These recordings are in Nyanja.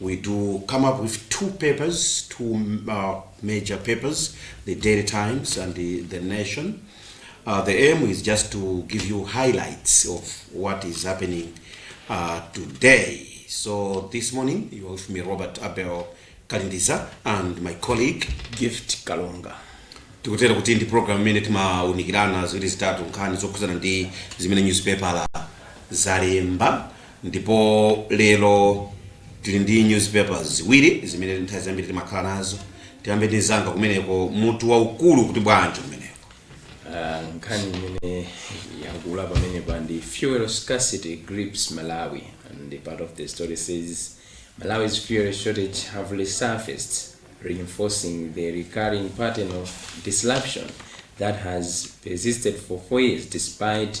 We do come up with two papers, two uh, major papers, the Daily Times and the, the Nation. Uh, the aim is just to give you highlights of what is happening uh, today. So this morning, you are with me, Robert Abel Kalindisa, and my colleague. gift kalonga tikutera kuti ndi program imene timaunikirana ziwiri zitatu nkhani zokhudzana ndi zimene newspaper zalemba Ndipo lero tili ndi newspaper ziwiri zimene nthawi zambiri timakhala nazo. Tiyambe ndi mzanga kumeneko, mutu waukulu kuti bwanji kumeneko? Ah, nkhani imene yakula pamenepa ndi fuel scarcity grips malawi and the part of the story says malawi's fuel shortages have resurfaced reinforcing the recurring pattern of disruption that has persisted for four years despite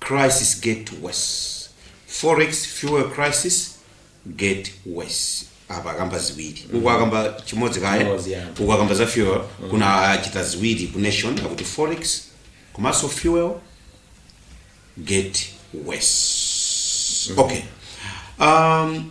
Crisis get worse, forex fuel crisis get worse. Apa akamba ziwiri uku akamba chimodzi kaye Chimodzi, yeah. uku akamba za fuel kuna achita ziwiri ku nation akuti forex komanso fuel get worse. Okay. Um,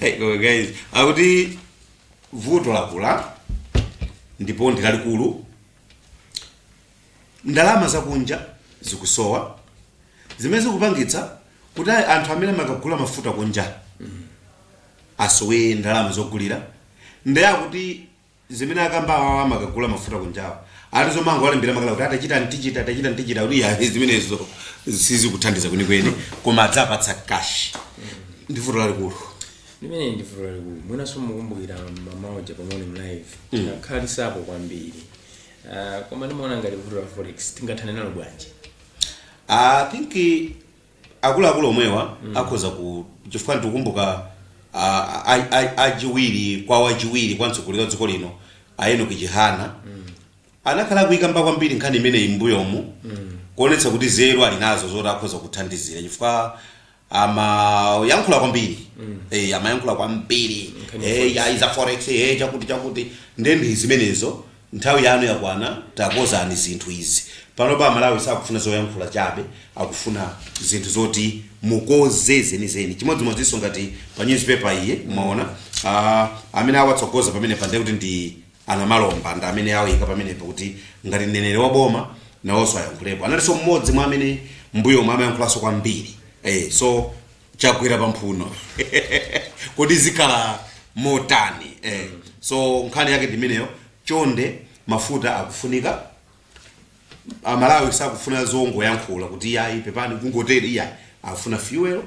Hey, koma guys akuti vuto lakula ndipo ndi lalikulu ndalama zakunja zikusowa zimene zikupangitsa kuti ayi anthu amene amakagula mafuta kunja asowe ndalama zogulira ndiye akuti zimene akamba awawa amakagula mafuta kunjawa ati zomangowalembera makalata kuti atachita ntichita atachita ntichita kuti ayi zimenezo sizikuthandiza kwenikweni koma aziwapatsa kashi ndi vuto lalikulu limene ndi vuto lalikulu mwinanso mukumbukira mmawa uja pamene pa live tinakhalitsapo kwambiri Ah, koma ndimaona ngati vuto la forex tingathane nalo bwanji i think akuluakulu omwewa akhoza ku chifukwa ndikukumbuka a- a- a- achiwiri kwa wachiwiri kwa mtsogoleri wa dziko lino a Enoch chihana anakhala akuyikamba kwambiri nkhani imeneyi mbuyomu kuonetsa kuti nzeru ali nazo zoti akhoza kuthandizira chifukwa amayankhula kwambiri Eh, amayankhula kwambiri Eh, ya ya za forex eh, chakuti chakuti ndendi zimenezo Nthawi yanu yakwana takozani zinthu izi panopa amalawi sakufuna zoyankhula chabe akufuna zinthu zoti mukoze zenizeni chimodzimodzinso ngati pa news paper iyi mwaona ah, amene awatsogoza pamenepa ndiye kuti ndi a Namalomba ndi amene awayika pamenepa kuti ngati mneneri wa boma nawonso ayankhulepo analinso mmodzi mwa amene mbuyomo amayankhulanso kwambiri eh, so chagwera pa mphuno kodi zikhala motani eh. so nkhani yake ndimeneyo chonde mafuta akufunika amalawi sakufuna zongoyankhula kuti iyayi pepani kungotere iyayi akufuna fuel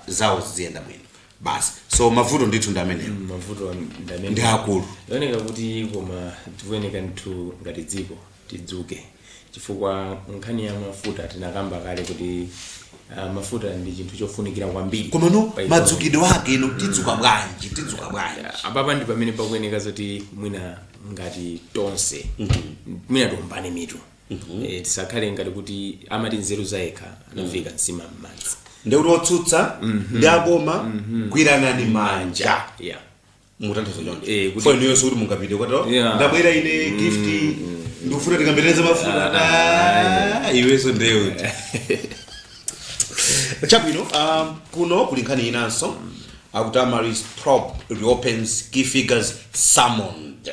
zawo ziziyenda bwino basi so mavuto ndithu ndi ameneyo Mm, mavuto ndi amene ndi akulu zioneka kuti koma tikuyenera ndithu ngati dziko tidzuke chifukwa nkhani ya mafuta tinakamba kale kuti uh, mafuta ndi chinthu chofunikira kwambiri komano pa economy. madzukidwe ake ino tidzuka bwanji tidzuka bwanji apapa ndi pamene pakuyeneka zoti mwina ngati tonse mwina tiombane mitu Eh, tisakhale ngati kuti amati nzeru zayekha anaviika nsima m'madzi ndeuti otsutsa ndi aboma gwiranani manja yeah mukutanthauza choncho Eh, kuti- fo inuyo sikuti mungapite kwato Yeah. ndabwera ine gift ndikufuna tikatetezere mafuta Ah, iweso ndewe chabwino um, kuno kuli nkhani inanso akuti Amaryllis probe reopens key figures summoned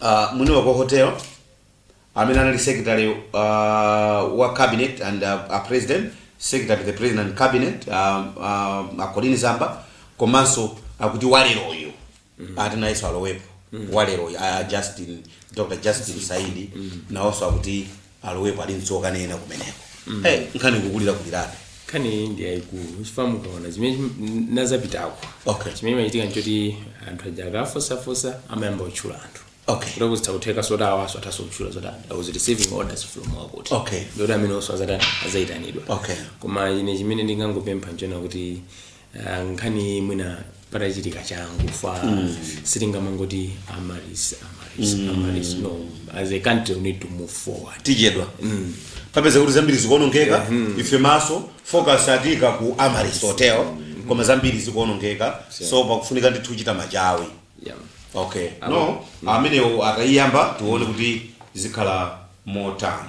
uh, mwini wake hotel amene anali secretary uh, wa cabinet and uh, a president secretary to the president and cabinet uh, uh, a Colleen Zamba komanso akuti waleroyo ati nayenso alowepo waleroyo uh, justin dr justin saidi nawonso akuti alowepo ali mtsoka nena kumeneko hey, nkhani kukulirakulirabe nkhani iyi ndi yayikulu chifukwa mukaona zimene chim- nazapitako Okay. chimene chimachitika nchoti anthu aja akafunsafunsa amayamba kutchula anthu Okay. kuti kuti zitha kutheka zoti awanso athanso kutchula zoti i was receiving orders from wakuti Okay. ndekuti amenewonso azata azayitanidwa Okay. koma ine chimene ndingangopempha nchonena kuti Ah, nkhani iyi mwina patachitika changu fa sitingamangoti Amaryllis Amaryllis Amaryllis no as a country we need to move forward tichedwa tapeza kuti zambiri zikuonongeka ife maso focus ati kaya ku Amaryllis hotel koma zambiri zikuonongeka so pakufunika ndithu kuchita machawi yeah. okay no amenewo akayiyamba tione kuti zikhala motani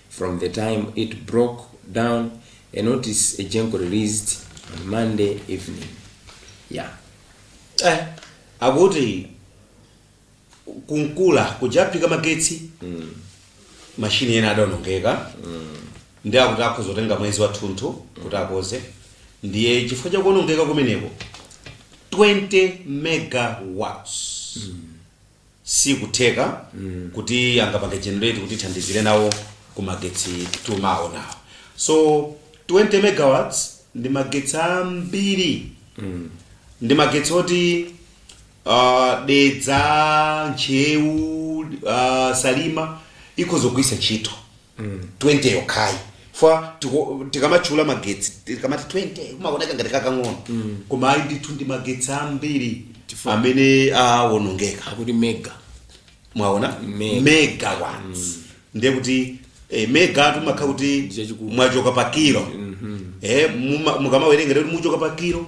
From the time it broke down, a notice Egenco released on Monday evening. Yeah. Eh, akuti ku Nkula kuja aphika magetsi mashini ena adaonongeka ndi akuti akhoza kutenga mwezi wathunthu kuti akonze ndiye chifukwa chakuonongeka kumeneko 20 megawatts sikutheka kuti angapange generate kutithandizira nawo ku magetsi timaonawo so 20 megawatts ndi magetsi ambiri ndi magetsi oti uh, dedza ntcheu uh, salima ikhoza kugwiritsa ntchito 20 yokhayi fa tiko- tikamatchula magetsi tikamati 20 kumaoneka ngati kakang'ono koma ayi ndithu ndi magetsi ambiri Chifukwa- amene awonongeka akuti mega mwaona Mega. megawatts ndiye kuti eh, mega timakhala kuti Ndichachikulu. mwachoka pa kilo eh, muma- mukamawerenga kuti muchoka pa kilo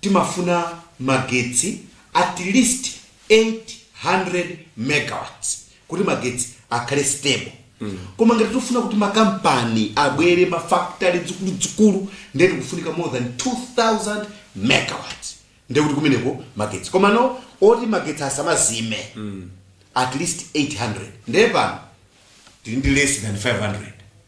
Timafuna magetsi at least 800 megawatts kuti magetsi akhale stable koma ngati tikufuna kuti makampani abwere mafactory zikuluzikulu ndiye tikufunika more than 2000 megawatts nde kuti kumeneko magetsi komano oti magetsi asamazime at least 800 nde pano tili ndi less than 500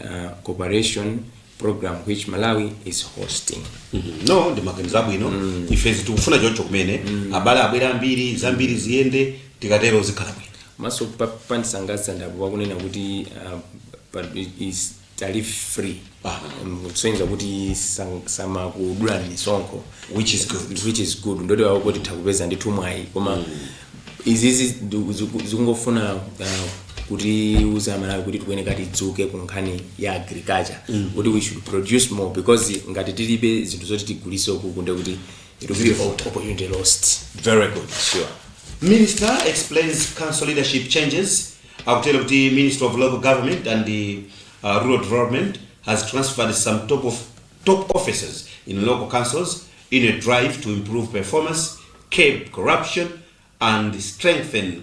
uh, cooperation program which Malawi is hosting no ndi maganizo abwino ife tikufuna choncho kumene abale abwere ambiri zambiri ziyende tikatero zikhala bwino komanso pa- pandisangalatsa ndi apo akunena kuti uh, pa- is tariff free Ah. Um, kusonyeza kuti sang- samakudula misonkho Which is good. which is good ndiye awo kuti akupeza ndithu mwayi koma izizi ziku- ziku- zikungofuna uh, kutiuza aMalawi kuti tikuyenera tidzuke ku nkhani ya agriculture kuti we should produce more because ngati tilibe zinthu zoti tigulise ukuku nde kuti it will be op- opportunity lost very good sure minister explains council leadership changes akutero kuti minister of local government and the uh, rural development has transferred some top of top officers in local councils in a drive to improve performance, curb corruption, and strengthen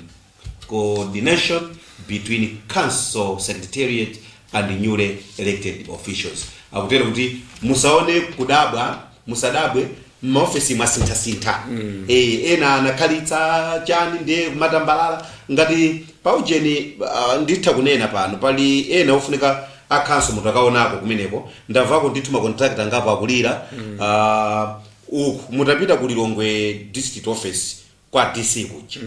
coordination between council secretariat and newly elected officials akutero kuti musaone kud- musadabwe m'maofesi mwasinthasintha mm. e, ena anakhalitsa chani ndiye kumatambalala ngati paujeni uh, nditha kunena pano pali ena ofunika akhanso mutakaonako kumeneko ndamvako ndithu macontractor angapo akulira Ah, uku mutapita ku Lilongwe district office kwa DC kuja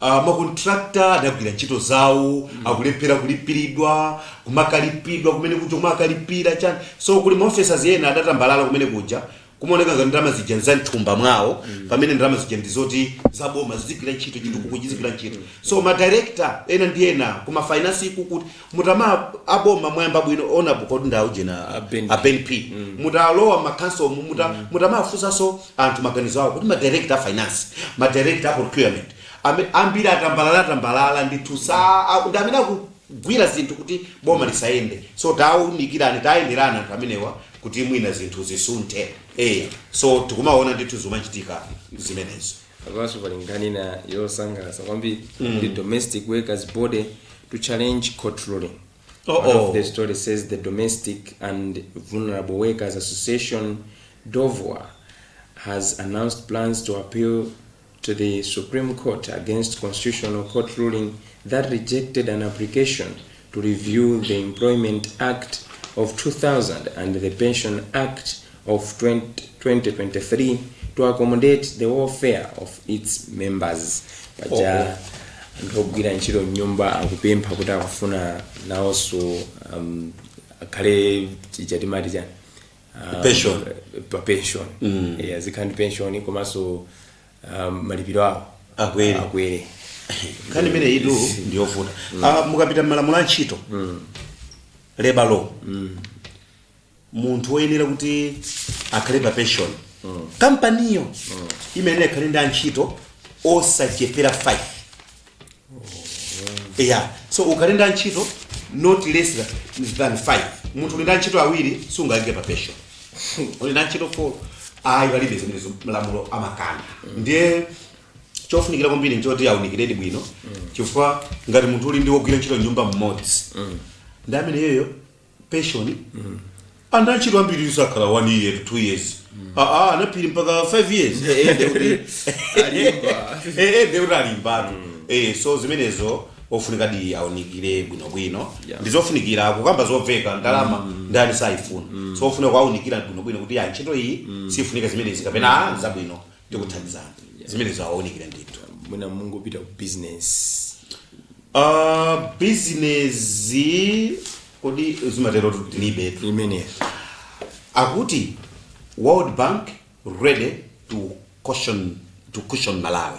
Ah, makontrakta adagwira ntchito zawo akulephera kulipiridwa kumakalipiridwa kumene kuja kumakalipira chani so kuli maofesala ena adatambalala kumene kuja Kumaoneka ngati ndalama zija nza m'thumba mwawo pamene ndalama zija ndi zoti za boma zizigwira ntchito chitukuko chizigwira ntchito. So ma director ena ndi ena ku ma finance ku kuti kutama a boma mwayamba bwino honorable kodi ndi aujena A Ben a Ben P. Mutalowa ma council mu muta mutamafunsanso anthu maganizo awo kuti ma director a finance, ma director a procurement ame- ambiri atambalala tambalala ndithu sa a- ndi amene akugwira zinthu kuti boma lisayende. So taunikirani tayenderana anthu amenewa kuti mwina zinthu zisunthe. Eya, so tikumaona ndithu zomachitika zimenezo. Apanso pali nkhani ina yosangalatsa kwambiri mm. the domestic workers body to challenge court ruling oh, oh. One of oh. the story says the domestic and vulnerable workers association DOVWA has announced plans to appeal to the Supreme Court against Constitutional Court ruling that rejected an application to review the Employment Act of 2000 and the Pension Act of 20, 2023 to accommodate the welfare of its members. Paja anthu ogwira ntchito mnyumba akupempha kuti akufuna nawonso um, akhale chija timati chani um, Pension. pa pension Mm. Eh, azikhala ndi pension komanso um, malipiro awo Akwere. akwere nkhani imeneyitu ndiyovuta Ah, mukapita m'malamulo a ntchito labor law munthu woyenera kuti akhale pa pension kampaniyo imayenera ikhale ndi antchito osachepera 5 yeah so ukhale ndi antchito not less than- than 5 munthu uli ndi antchito awiri sungaike pa pension uli ndi antchito 4 ayi palibe zimenezo malamulo amakana ndiye chofunikira kwambiri nchoti aunikiredi bwino chifukwa ngati munthu uli ndi wogwira ntchito mnyumba mmodzi ndi amene iyeyo pension anthu antchito ambiri sakhala 1 year to 2 years aa anaphiri mpaka 5 years Eh, eh, ndekuti Alimba. Eh, eh, ndekuti alimbatu Eh, so zimenezo ofunikadi aunikire bwinobwino Yeah. ndizofunikira kukamba zomveka ndalama ndani sayifuna so ofunika kuaunikira bwinobwino kuti ya ntchito iyi sifunika zimenezi kapena ah, zabwino ndikuthandizana zimenezo awaunikire ndithu mwina mungopita ku business uh, bizinezi kodi zimatero tilibe imeneyo akuti world bank ready to cushion, to cushion malawi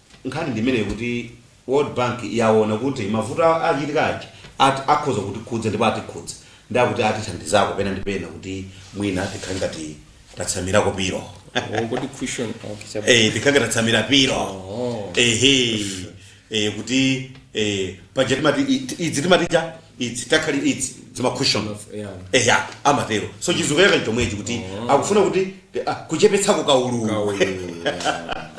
Nkhani ndi imeneyo kuti World Bank yawona kuti mavuto achitika aja akhoza kutikhudza ndipo atikhudza ndiye akuti atithandizako pena ndi pena kuti mwina tikhale ngati tatsamirako pilo Wongoti cushion okay chabwino. eh tikhale ngati tatsamira pilo Oh. ehe eh kuti eh paja timati i- idzi timati cha idzi takhali idzi dzima cushion Yeah. eya amatero so chizungu chake chomwechi kuti akufuna kuti ah, kuchepetsako kaululu Kaulu, yeah.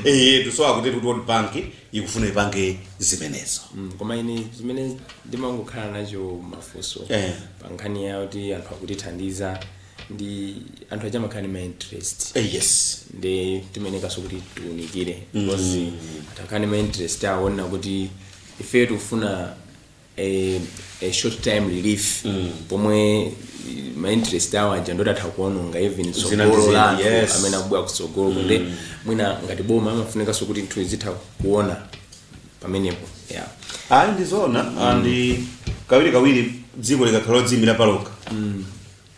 eyetu so akuti kuti world bank ikufuna ipange zimenezo Mm, koma ine zimene ndimangokhala nacho mafunso Eh. pa nkhani ya kuti anthu akutithandiza ndi anthu aja amakhala ndi ma interest Eh, yes ndi timayenekanso kuti tiunikire because atakhala ndi ma interest aona kuti ifeyo tikufuna a, a short time relief pomwe ma interest awo aja ndoti atha kuononga even Zina ndi tsogolo zina, la anthu yes. amene akubwera kutsogolo kunde mwina ngati boma amafunikanso kuti zinthu azitha kuona pamenepo yeah. ayi ndizoona and kawiri kawiri dziko likakhala lodziimira palokha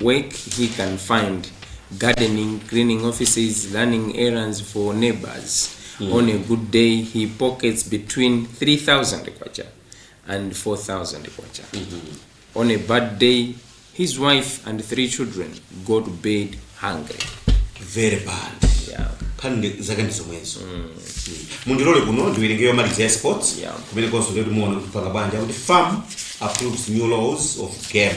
work he can find, gardening, cleaning offices, running errands for neighbors. On a good day, he pockets between 3,000 kwacha and 4,000 kwacha. On a bad day, his wife and three children go to bed hungry. very bad Yeah. khani ndi- zake ndi zomwezo Mm. mundilole kuno ndiwerenge yomaliza ya sports Yeah. kumene konso ndikuti muona kupanga banja kuti farm approves new laws of game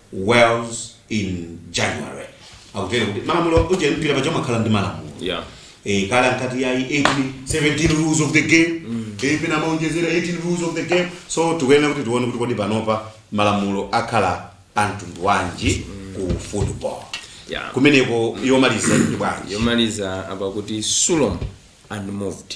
Wales in January akutero kuti malamulo uje mpira paja umakhala ndi malamulo yeah eh, kale ankati yayi 18 17 rules of the game eh, pena amaonjezera 18 rules of the game so tikuyenera kuti tione kuti kodi panopa malamulo akhala amtundu wanji ku football yeah kumeneko yomaliza ikuti bwanji yomaliza apa akuti sulom unmoved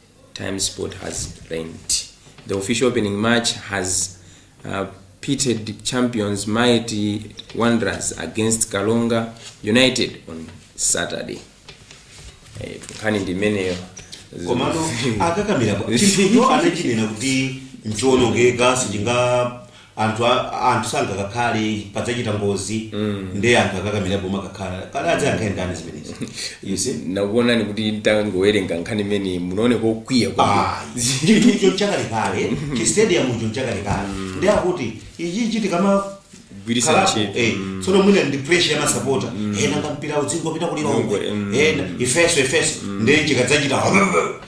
Times Sport has learnt the official opening match has uh, pitted champions Mighty Wanderers against Karonga United on Saturday. Eh, nkhani ndi imeneyo. komano akakamira pa- chinthucho anachinena kuti nchiwonongeka sichinga anthu a- anthu sangakakhale padzachita ngozi ndiye anthu akakamira pomwe akakhala kale adzayankhe ndani zimenezi you see nakuonani kuti ntangowerenga nkhani imene munaone kokwiya chinthucho nchakalekale chistadiumcho nchakalekale ndi akuti ichi chitikama Gwiritsabe ntchito. eh, tsono mwina ndi pressure ya masapota ena ngampira udzingopita ku Lilongwe, omwe mm. ena ifeso ifeso ndiye chikadzachita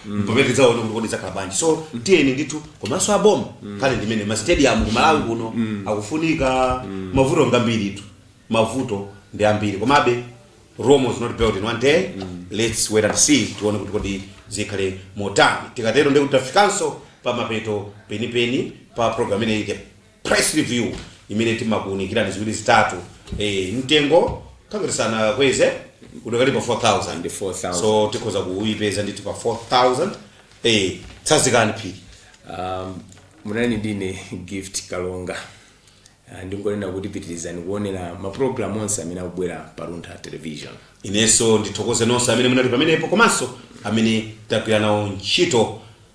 mpamene tidzaona kuti kodi zakhala bwanji so tiyeni ndithu komanso aboma nkhani ndi imene masitediyamu kumalawi kuno akufunika mavuto ngambiritu mavuto ndi ambiri komabe rome was not built in one day let's wait and see tione kuti kodi zikhale motani tikatero ndikuti tafikanso pa mapeto penipeni pa program imeneyi press review imene timakuunikirani ziwiri zitatu eh, mtengo nkangati sanakweze udakali pa 4000 Ndi 4,000. so tikhoza kuipeza ndithu pa 4000 eh, tsazikani phiri um, munali ndine gift kalonga Ah, ndingonena kuti pitirizani kuonera mapulogalamu onse amene akubwera pa luntha television inenso ndithokoze nonse amene munali pamenepo komanso amene tagwira nawo ntchito